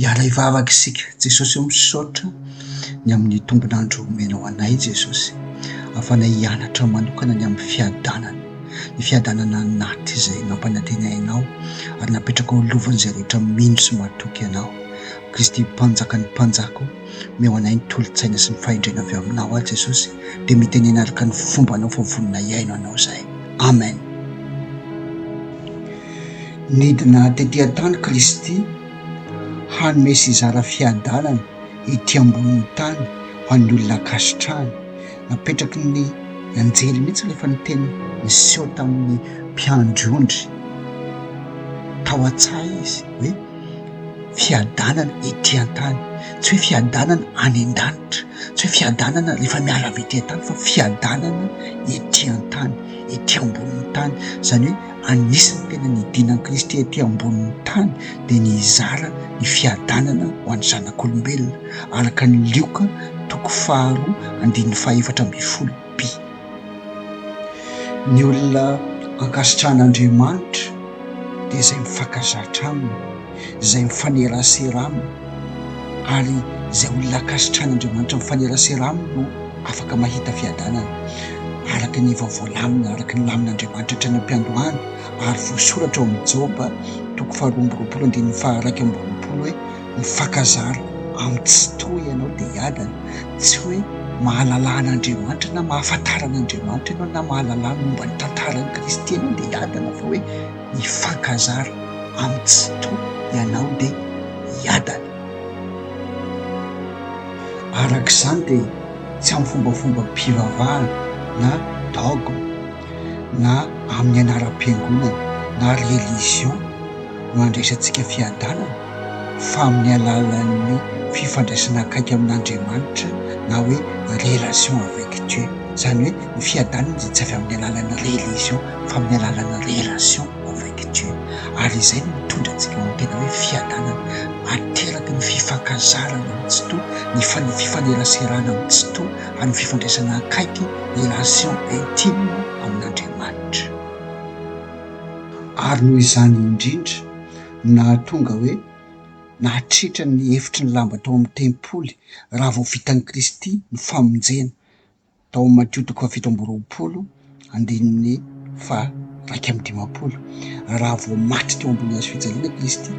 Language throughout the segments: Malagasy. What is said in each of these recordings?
Hiala hivavaka isika. Jesosy ô misaotra ny amin'ny tombon'andro omenao anay Jesosy afana hianatra manokana ny amin'ny fiadanana ny fiadanana anaty izay nampanantena ianao ary napetraka ho lovan'izay rehetra mino sy matoky ianao Kristy mpanjaka ny mpanjaka Omeo anay ny tolo-tsaina sy ny fahendrena avy aminao aho Jesosy dia mitenena araka ny fombanao fa vonona hihaino anao izahay. Amen. Nidina tety an-tany Kristy hanome sy hizara fiadanana ety ambonin'ny tany ho an'ny olona ankasitrahany. Napetraky ny anjely mihitsy ilay fanentenana. Niseho tamin'ny mpiandry ondry tao an-tsaha izy hoe. fiadanana ety an-tany, tsy hoe fiadanana any an-danitra, tsy hoe fiadanana rehefa miala avy ety an-tany fa fiadanana ety an-tany, ety ambonin'ny tany, izany hoe anisan'ny tena nidiana an'i Kristy ety ambonin'ny tany dia ny hizara ny fiadanana ho an'ny zanak'olombelona, araka ny Lioka toko faharoa andininy fahefatra ambin'ny folo. Ny olona ankasitrahan'Andriamanitra dia izay mifankazatra aminy, izay mifanerasera aminy, ary izay olona ankasitrahan'Andriamanitra mifanerasera aminy no afaka mahita fiadanana, araka ny efa voalamina, araka ny lamin'Andriamanitra hatrany am-piandohana, ary voasoratra ao amin'ny Joba toko faharoa amby roapolo andininy faha iraika amby roapolo hoe. mifankazara amin'ny Tsitoha ianao dia hiadana, tsy hoe mahalalà an'Andriamanitra na mahafantara an'Andriamanitra ianao na mahalalà ny momba ny tantaran'i Kristy ianao dia hiadana fa hoe mifankazara amin'ny Tsitoha ianao dia hiadana. Araka izany dia tsy amin'ny fombafombam-pivavahana na dogme na amin'ny anaram-piangonana na religion no andraisantsika fiadanana, fa amin'ny alalan'ny fifandraisana akaiky amin'Andriamanitra na hoe relation avec Dieu, izany hoe ny fiadanana dia tsy avy amin'ny alalan'ny religion fa amin'ny alalan'ny relation avec Dieu ary izay no mitondra antsika ho amin'ny tena hoe fiadanana ateraky ny fifankazarana amin'ny tsitoha, ny fifaneraserana amin'ny tsitoha ary ny fifandraisana akaiky, relation intime, amin'Andriamanitra. Ary noho izany indrindra, no nahatonga hoe nahatritra ny efitry ny lamba tao amin'ny tempoly raha vao vitan'i Kristy ny famonjena, tao amin'ny Matio toko fahafito amby roapolo andininy faha-iraika amby dimampolo. Raha vao maty teo ambony hazo fijaliana i Kristy,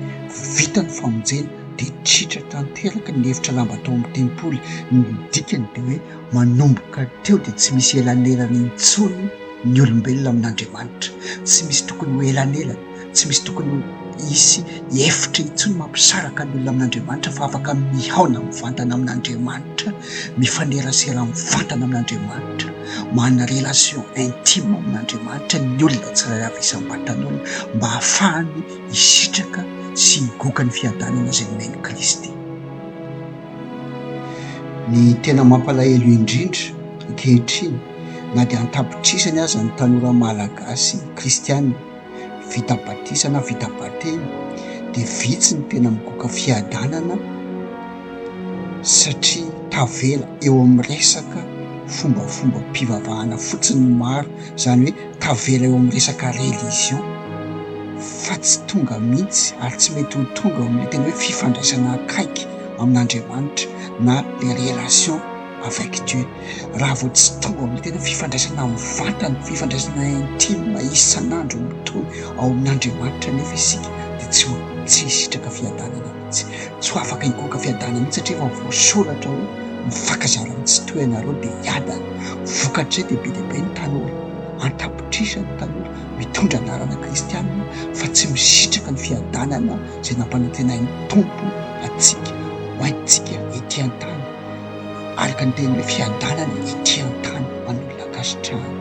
vita ny famonjena, dia tritra tanteraka ny efitra lamba tao amin'ny tempoly. Ny dikany dia hoe manomboka teo dia tsy misy elanelana intsony ny olombelona amin'Andriamanitra. Tsy misy tokony ho elanelana. Tsy misy tokony ho hisy efitra intsony mampisaraka ny olona amin'Andriamanitra fa afaka mihaona mivantana amin'Andriamanitra, mifanerasera mivantana amin'Andriamanitra, manana relation intime amin'Andriamanitra ny olona tsirairay avy isam-batan'olona mba hahafahany hisitraka sy higoka ny fiadanana izay nomen'i Kristy. Ny tena mampalahelo indrindra, ankehitriny, na dia an-tapitrisany aza ny tanora malagasy kristiana, vita batisa na vita batemy dia vitsy ny tena mikoka fiadanana satria tavela eo amin'ny resaka fombafombam-pivavahana fotsiny ny maro, izany hoe tavela eo amin'ny resaka religion fa tsy tonga mihitsy ary tsy mety ho tonga eo amin'ny tena hoe fifandraisana akaiky amin'Andriamanitra na le relation. avec Dieu raha vao tsy tonga ao amin'ny tena fifandraisana amin'ny vatana, fifandraisana intime isan'andro mitohy ao amin'Andriamanitra anefa isika dia tsy ho tsy hisitraka fiadanana mihitsy, tsy ho afaka hikoka fiadanana mihitsy satria efa voasoratra hoe mifankazara amin'ny tsy toy anareo dia hiadana, vokatr'izay dia be dia be ny tanora an-tapitrisa ny tanora mitondra anarana kristianina fa tsy misitraka ny fiadanana izay nampanantenain'ny Tompo antsika ho antsika ety an-tany. araka ny teny hoe fiadanana ity an-tany ho an'ny olona ankasitrahana.